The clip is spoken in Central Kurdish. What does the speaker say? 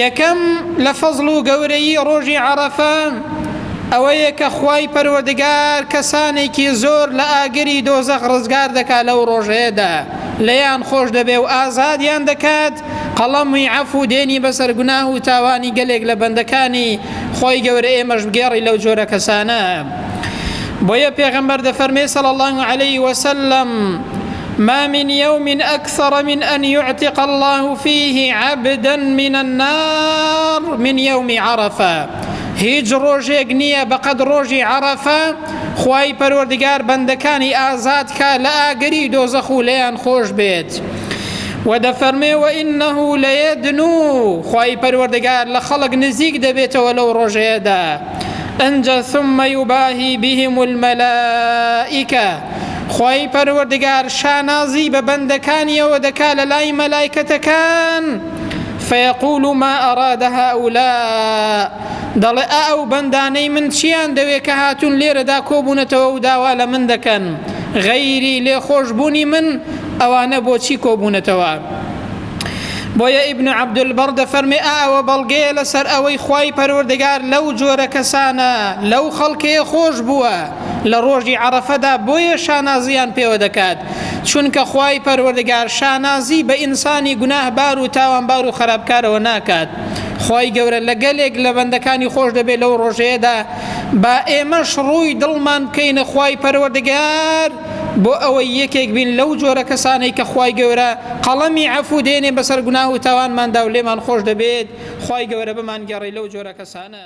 یەکەم، لە فەزڵ و گەورەیی ڕۆژی عەڕەفە ئەوەیە کە خوای پەروەردگار کەسانێکی زۆر لە ئاگری دۆزەخ ڕزگار دەکات لەو ڕۆژەیەدا لێیان خۆش دەبێ و ئازادیان دەکات قەڵەمی عەفو دێنی بەسەر گوناه و تاوانی گەلێک لە بەندەکانی خۆی گەورە ئێمەش بگێڕی لەو جۆرە کەسانە بۆیە پێغەمبەر دەفەرمێ صلی الله علیه وسلم ما من یوم اکثر من ان یعتق اللە فیه عبدا من النار من یوم عرفە هیچ ڕۆژێک نییە بەقەد ڕۆژی عەرەفە خوای پەروەردگار بەندەکانی ئازاد کا لە ئاگری دۆزەخ و لێیان خۆش بێت و دەفەرمێ و ئینه لەیەدن و خوای پەروەردگار لە خەڵک نزیک دەبێتەوە لەو ڕۆژەیەدا ئەجا ثم یباهی بهم الملائکە خوای پەروەردگار شانازی بە بەندەکانیەوە دەکا لە لای مەلایکەتەکان فیقول ما ئەراد هاولا دەڵێ ئا ئەو بەندانەی من چیان دەوێ کە هاتون لێرەدا کۆبوونەتەوە و داوا لە من دەکەن غەیری لێخۆشبوونی من ئەوانە بۆچی کۆبوونەتەوە بۆیە ئیبن عەبدولبەڕ دەفەرمێ ئاوە بەڵگەیە لەسەر ئەوەی خوای پەروەردگار لەو جۆرە کەسانە لەو خەڵکەیە خۆش بووە لە ڕۆژی عەڕەفەدا بۆیە شانازییان پێوە دەکات چونکە خوای پەروەردگار شانازی بە ئینسانی گوناهبار و تاوانبار و خراپکارەوە ناکات خوای گەورە لە گەلێک لە بەندەکانی خۆش دەبێت لەو ڕۆژەیەدا با ئێمەش ڕووی دڵمان بکەینە خوای پەروەردگار بۆ ئەوەی یەکێک بین لەو جۆرە کەسانەی کە خوای گەورە قەڵەمی عەفو دێنێ بەسەر گوناه و تاوانماندا و لێمان خۆش دەبێت خوای گەورە بمانگەڕی لەو جۆرە کەسانە